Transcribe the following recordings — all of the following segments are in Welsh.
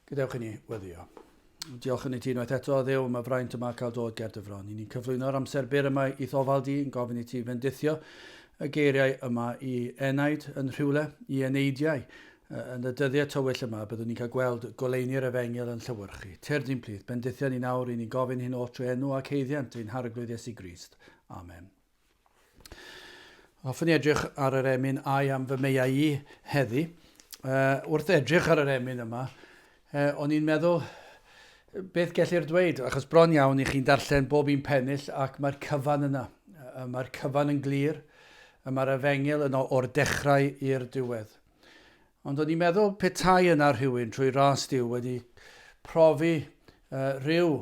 Gadewch i ni weddio. Diolch yn ei ti unwaith eto, ddew, mae fraint yma cael dod ger dy fron. I ni'n cyflwyno'r amser byr yma i ddofal di, yn gofyn i ti fendithio y geiriau yma i enaid yn rhywle, i eneidiau, Yn y dyddiau tywyll yma, byddwn ni'n cael gweld goleuni'r Efengyl yn llewyrchu. Tyrd i'n plith, bendithion ni nawr, i ni gofyn hyn o trwy enw ac haeddiant ein Harglwydd Iesu Grist. Amen. Hoffwn i edrych ar yr emyn ai am fy meiau i heddi. Uh, wrth edrych ar yr emyn yma, uh, o'n i'n meddwl beth gellir dweud, achos bron iawn i chi'n darllen bob un pennill ac mae'r cyfan yna. Mae'r cyfan yn glir, mae'r efengil yno o'r dechrau i'r diwedd. Ond o'n i'n meddwl petai yna rhywun trwy ras Duw wedi profi uh, rhyw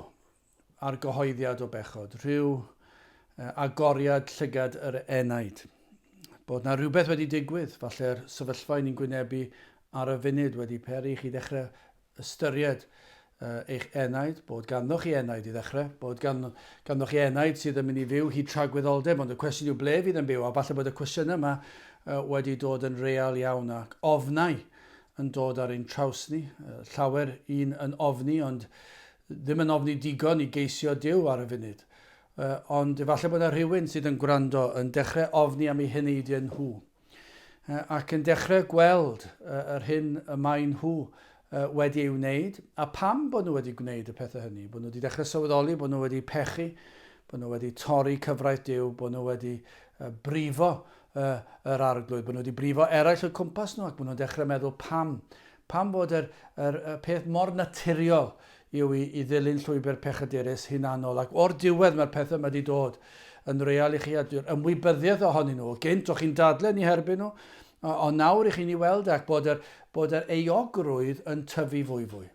argyhoeddiad o bechod, rhyw uh, agoriad llygad yr enaid. Bod na rhywbeth wedi digwydd, falle'r sefyllfa ni'n gwynebu ar y funud wedi peri chi ddechrau ystyried eich enaid, bod ganddoch chi enaid i ddechrau, bod gan, ganddoch chi enaid sydd yn mynd i fyw hyd tragwyddoldeb, ond y cwestiwn yw ble fydd yn byw, a falle bod y cwestiynau yma uh, wedi dod yn real iawn ac ofnau yn dod ar ein traws ni, uh, llawer un yn ofni, ond ddim yn ofni digon i geisio Dyw ar y funud. Uh, ond efallai bod yna rhywun sydd yn gwrando yn dechrau ofni am ei heneidiau nhw. ac yn dechrau gweld yr hyn y maen nhw wedi ei wneud a pam bod nhw wedi gwneud y pethau hynny, bod nhw wedi dechrau sylweddoli bod nhw wedi pechu, bod nhw wedi torri cyfraith Duw, bod nhw wedi brifo yr arglwydd, bod nhw wedi brifo eraill o cwmpas nhw ac bod nhw'n dechrau meddwl pam Pam fod yr yr y peth mor naturiol yw i i ddilyn llwybr pechadurus, hunanol, ac o'r diwedd mae'r pethau yma 'di dod yn real i chi a dyw'r ymwybyddiaeth ohonyn nhw, o gynt o' chi'n dadle ni herbyn nhw, o- ond nawr i chi ni weld e ac bod yr bod yr euogrwydd yn tyfu fwy fwy.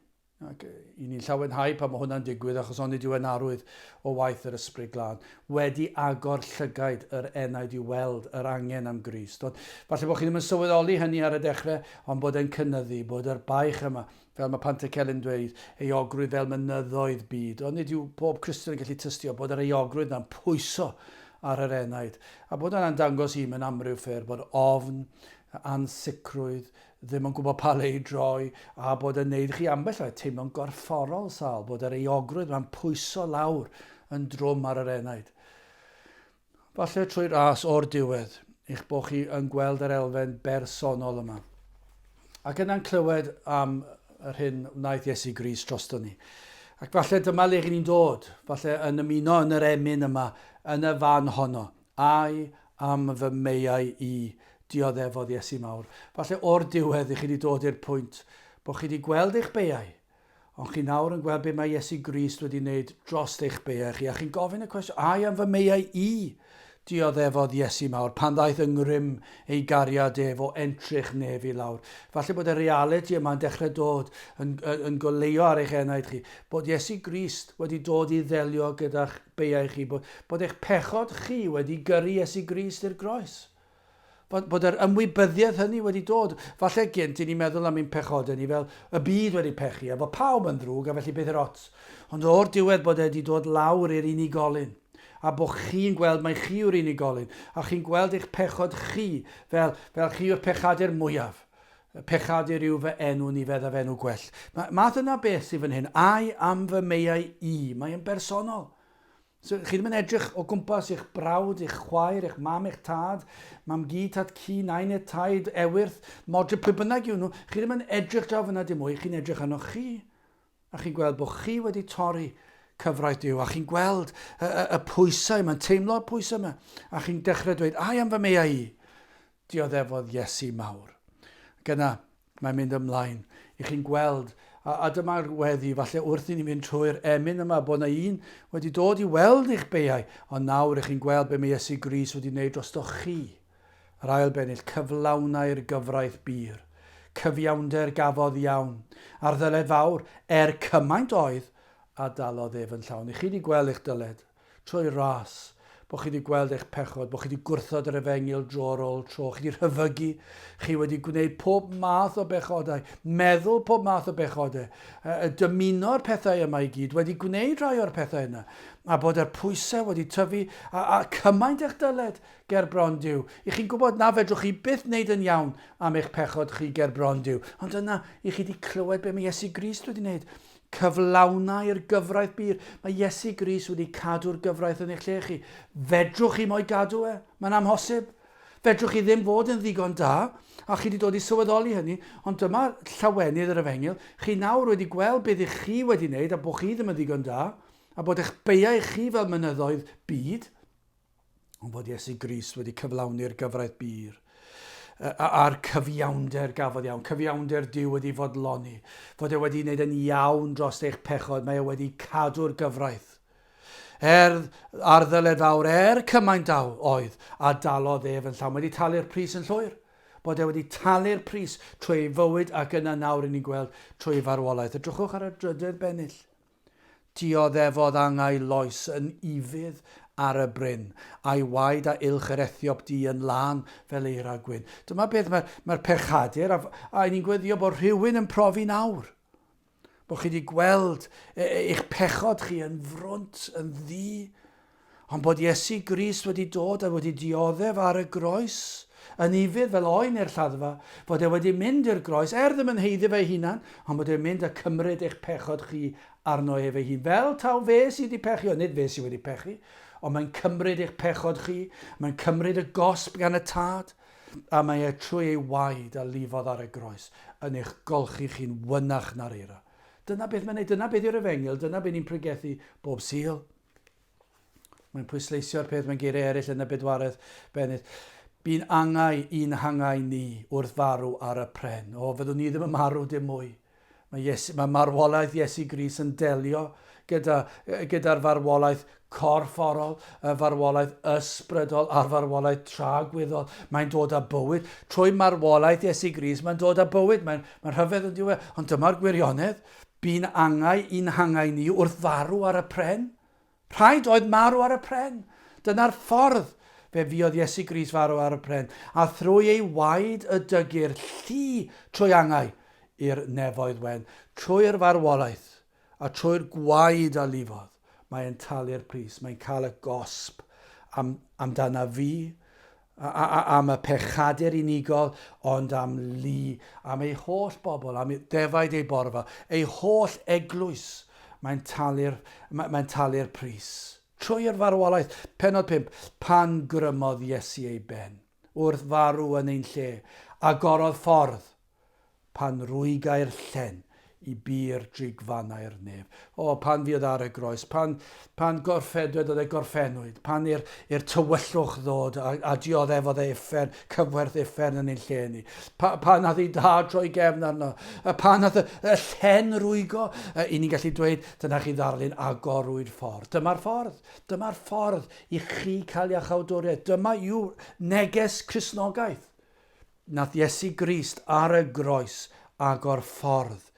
Ac yy 'yn ni'n llawenhau pan ma' hwnna'n digwydd achos onid yw e'n arwydd o waith yr Ysbryd Glân? wedi agor llygaid yr enaid i weld yr angen am Grist. Ond falle bod chi ddim yn sylweddoli hynny ar y dechrau, ond bod e'n cynyddu, bod yr baich yma, fel mae Pantycelyn yn dweud, euogrwydd fel mynyddoedd byd. Ond nid yw pob Cristion yn gallu tystio bod yr euogrwydd na'n pwyso ar yr enaid, a bod yna'n dangos i mewn amryw ffyrdd bod ofn, ansicrwydd, ddim yn gwybod pa le i droi, a bod yn neud i chi ambell waith teimlo'n gorfforol sâl bod yr euogrwydd yma'n pwyso lawr yn drwm ar yr enaid. Falle trwy ras o'r diwedd, eich bod chi yn gweld yr elfen bersonol yma. Ac yna'n clywed am yr hyn wnaeth Iesu Gris drosto ni. Ac falle dyma le rydyn ni'n dod, falle yn ymuno yn yr emyn yma, yn y fan honno, Ai am fy meiau i? Dioddefodd Iesu Mawr. Falle o'r diwedd i chi wedi dod i'r pwynt bod chi wedi gweld eich beiau, ond chi nawr yn gweld be mae Iesu Grist wedi wneud dros eich beiau chi, a chi'n gofyn y cwestiwn, ai am fy meiau i? Dioddefodd Iesu Mawr pan ddaeth yng ngrym ei gariad ef o entrych nef i lawr. Falle bod y realiti yma yn dechrau dod yn, yn, yn goleuo ar eich enaid chi, bod Iesu Grist wedi dod i ddelio gyda'ch Beiau chi, bod, bod eich pechod chi wedi gyrru Iesu Grist i'r groes. Bod, bod yr ymwybyddiaeth hynny wedi dod. Falle gynt i ni meddwl am ein pechodau ni fel y byd wedi pechu, a bod pawb yn ddrwg a felly beth i'r ots. Ond o'r diwedd bod e wedi dod lawr i'r unigolyn. A bod chi'n gweld mai chi yw'r unigolyn, a chi'n gweld eich pechod chi fel, fel chi yw'r pechadur mwyaf. Y pechadur yw fy enw ni feddaf enw gwell. Mae, mae dyna beth sydd fan hyn. Ai am fy meiau i. Mae yn bersonol. So, chi ddim yn edrych o gwmpas eich brawd, eich chwaer, eich mam, eich tad, mam gi, tad ci, nain et taid, ewyrth, modry, pwy bynnag yw nhw. Chi ddim yn edrych draw fyna dim mwy, chi'n edrych arnoch chi. A chi'n gweld bod chi wedi torri cyfraith Duw, a chi'n gweld y, y, y pwysau yma, yn teimlo'r pwysau yma, a chi'n dechrau dweud, ai am fy meau i? Dioddefodd Iesu mawr. Gyna, mae'n mynd ymlaen i chi'n gweld, a, a dyma'r weddi, falle wrth i ni fynd trwy'r emyn yma, bod yna un wedi dod i weld eich beiau, ond nawr ych chi'n gweld be mae Iesu Gris wedi wneud drostoch chi. Yr ail bennill cyflawnai'r gyfraith bur. Cyfiawnder gafodd iawn, a'r ddyled fawr, er cymaint oedd, a dalodd ef yn llawn. Ych chi 'di gweld eich dyled? Troi ras. Bo' chi 'di gweld eich pechod, bo' chi 'di gwrthod yr efengyl dro ar ôl tro, chi 'di rhyfygu, chi wedi gwneud pob math o bechodau, meddwl pob math o bechodau, yy dymuno'r pethau yma i gyd, wedi gwneud rhai o'r pethau yna, a bod yr pwysau wedi tyfu, a, a cymaint ych dyled, ger bron Duw. I chi'n gwybod na fedrwch chi byth wneud yn iawn am eich pechod chi ger bron Duw. Ond yna, i chi wedi clywed beth mae Iesu Grist wedi wneud. Cyflawnau'r gyfraith bur. Mae Iesu Grist wedi cadw'r gyfraith yn eich lle chi. Fedrwch chi mo'i gadw e? Mae'n amhosib. Fedrwch chi ddim fod yn ddigon da, a chi wedi dod i sylweddoli hynny, ond dyma llawenydd yr efengyl, chi nawr wedi gweld beth ych chi wedi wneud a bod chi ddim yn ddigon da, a bod eich beiau chi fel mynyddoedd byd. Ond bod Iesu Grist wedi cyflawni'r gyfraith bur a'r cyfiawnder gafodd iawn, cyfiawnder Dyw wedi fodloni, fod e wedi wneud yn iawn dros eich pechod, mae e wedi cadw'r gyfraith. Er ar ddyled fawr, er cymaint daw oedd, a dalodd ef yn llawn, wedi talu'r pris yn llwyr, bod e wedi talu'r pris trwy ei fywyd ac yna nawr i ni'n gweld trwy farwolaeth. Edrychwch ar y drydedd bennill. Dioddefodd angau loes yn ufudd ar y bryn, a'i waed a uwch yr Ethiop du yn lân fel eira gwyn. Dyma beth mae'r mae pechadur, a, a ni'n gweddio bod rhywun yn profi nawr, bod chi wedi gweld e, e, eich pechod chi yn frwnt, yn ddi, Ond bod Iesu Grist wedi dod a wedi dioddef ar y groes, yn ufudd fel oen i'r lladdfa, fod e wedi mynd i'r groes, er ddim yn heiddi fe'i hunan, ond bod e'n mynd a cymryd eich pechod chi arno ef ei hun, fel taw fe sydd wedi pechio, nid fe sydd wedi pechu, ond mae'n cymryd eich pechod chi, mae'n cymryd y gosb gan y Tad, a mae e trwy ei waed a lifodd ar y groes, yn eich golchi chi'n fynach na'r eira. Dyna beth mae'n ei, dyna beth yw'r efengyl, dyna be ni'n pregethu bob Sul. Mae'n pwysleisio'r peth mewn geiriau eraill yn y bedwaredd bennydd. Bu'n angau i'n hangau ni wrth farw ar y pren. O, fyddwn ni ddim yn marw dim mwy. Mae, Iesu, mae marwolaeth Iesu Gris yn delio gyda, gyda'r farwolaeth corfforol, y farwolaeth ysbrydol a'r farwolaeth tragwyddol. Mae'n dod â bywyd. Trwy marwolaeth Iesu Gris, mae'n dod â bywyd. Mae'n mae rhyfedd yn diwedd. Ond dyma'r gwirionedd. Bu'n angau i'n hangau ni wrth farw ar y pren. Rhaid oedd marw ar y pren. Dyna'r ffordd. Fe fuodd Iesu Grist farw ar y pren, a thrwy ei waed y dygir llu trwy angau i'r nefoedd wen. Trwy'r farwolaeth, a trwy'r gwaed a lifodd, mae e'n talu'r pris, mae'n cael y gosb am, amdana fi, am y pechadur unigol, ond am lu, am ei holl bobl, am ddefaid ei borfa, ei holl eglwys, mae'n talu'r, mae'n talu'r pris. Trwy'r farwolaeth, penod 5, pan grymodd Iesu ei ben, wrth farw yn ein lle, agorodd ffordd, Pan rwygai'r llen i bur drig fanai'r nef. O, pan fuodd ar y groes, pan, pan gorffedwyd oedd e gorffennwyd, pan i'r, i'r tywyllwch ddod a, a dioddefodd e uffern, cyfwerth uffern yn ein lle ni. Pa, pan nath ei dad droi gefn arno, a pan nath y, y llen rwygo, i ni'n gallu dweud, dyna chi ddarlun agorwyd ffordd. Dyma'r ffordd, dyma'r ffordd i chi cael iachawdwriaeth. Dyma yw neges Crisnogaeth. Nath Iesu Grist ar y groes agor ffordd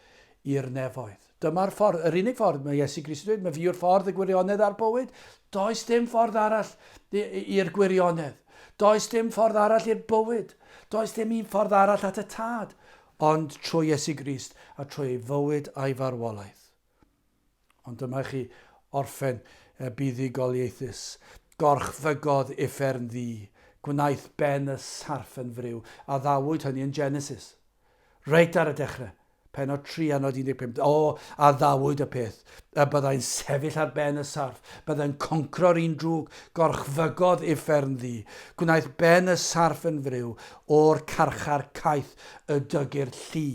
i'r nefoedd. Dyma'r ffordd, yr unig ffordd, mae Iesu Grist yn dweud, mae fi yw'r ffordd, y gwirionedd a'r bywyd. Does dim ffordd arall i'r gwirionedd. Does dim ffordd arall i'r bywyd. Does dim un ffordd arall at y Tad, ond trwy Iesu Grist a trwy ei fywyd a'i farwolaeth. Ond dyma chi orffen y buddugoliaethus. Gorchfygodd uffern ddu. Gwnaeth ben y sarff yn friw. Addawyd hynny yn Genesis. Reit ar y dechrau. Pennod 3 a nod 15. O, addawyd y peth. Y byddai'n sefyll ar ben y sarff. Byddai'n concro'r un drwg. Gorchfygodd uffern ddu. Gwnaeth ben y sarff yn friw. O'r carchar caeth y dygyrd llu.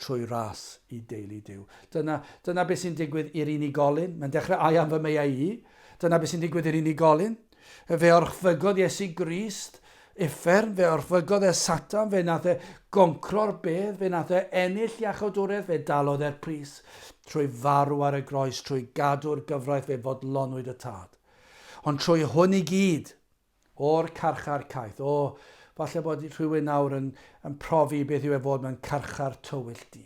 trwy ras i deulu Duw. Dyna, dyna beth sy'n digwydd i'r unigolyn. Mae'n dechrau I am fy meiau i. Dyna beth sy'n digwydd i'r unigolyn. Fe orchfygodd Iesu Grist uffern, fe orchfygodd e Satan, fe nath e goncro'r bedd, fe nath e ennill iachawdwriaeth, fe dalodd e'r pris trwy farw ar y groes, trwy gadw'r gyfraith fe fodlonwyd y tad. Ond trwy hwn i gyd, O'r carchar caeth. O, falle bod rhywun nawr yn, yn profi beth yw e fod mewn carchar tywyll du.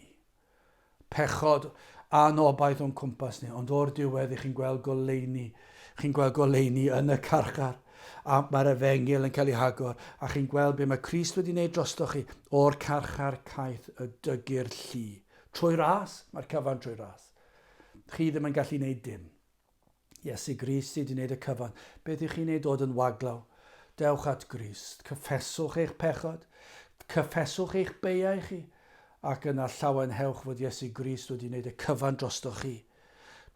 Pechod anobaith o'n cwmpas ni, ond o'r diwedd i chi'n gweld goleuni, chi'n gweld goleuni yn y carchar, a mae'r efengil yn cael ei hagor, a chi'n gweld beth mae Christ wedi wneud drosto chi, o'r carchar caeth y dygir llu. Trwy ras, mae'r cyfan trwy ras. Chi ddim yn gallu wneud dim. Iesu Grist sy 'di neud y cyfan. Be dych chi'n ei dod yn waglaw? Dewch at Grist, cyffeswch eich pechod, cyffeswch eich beiau chi, ac yna llawenhewch fod Iesu Grist wedi neud y cyfan drostoch chi.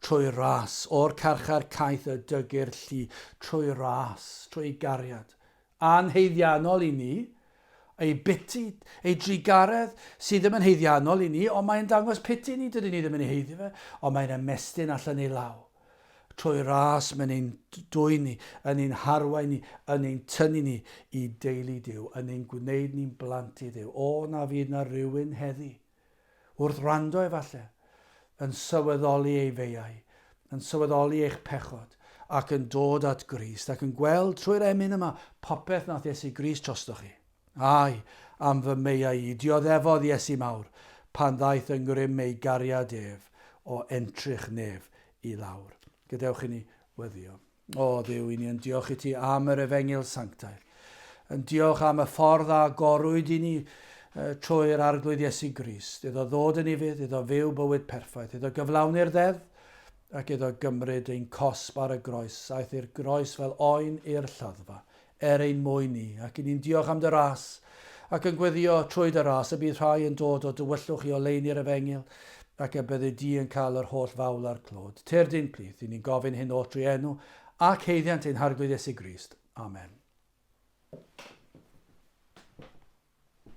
Trwy ras, o'r carchar caeth y dygir llu, trwy ras, trwy gariad, A'n haeddiannol i ni, ei biti, ei drugaredd, sydd ddim yn haeddiannol i ni, ond mae'n dangos piti ni, dydyn ni ddim yn ei heiddi fe, ond mae'n ymestyn allan ei law. Trwy ras mae'n ein dwyn ni, yn ein harwain ni, yn ein tynnu ni i deulu Duw, yn ein gwneud ni'n blant i Dduw. O, na fydd na rywun heddi. Wrth wrando efallai, yn sylweddoli ei feiau, yn sylweddoli eich pechod, ac yn dod at Grist, ac yn gweld trwy'r emyn yma popeth nath Iesu Grist drostoch chi. Ai, am fy meiau i, dioddefodd Iesu mawr, pan ddaeth yng ngrym ei gariad ef, o entrych nef i lawr. Gadewch i ni weddio. O Dduw i ni, yn diolch i ti am yr efengyl sanctaidd. Yn diolch am y ffordd a gorwyd i ni uh, trwy'r arglwydd Iesu Grist, iddo ddod yn ifydd, iddo fyw bywyd perffaith, iddo gyflawni'r ddeddf, ac iddo gymryd ein cosb ar y groes, aeth i'r groes fel oen i'r lladdfa, er ein mwyn ni, ac i ni'n diolch am dy ras, ac yn gweddio trwy dy ras, y bydd rhai yn dod o dywyllwch i oleuni'r efengyl, ac y byddi di yn cael yr holl fawl a'r clod. Terdyn, plith, i ni'n gofyn hyn oll drwy enw ac haeddiant ein Harglwydd Iesu Grist. Amen.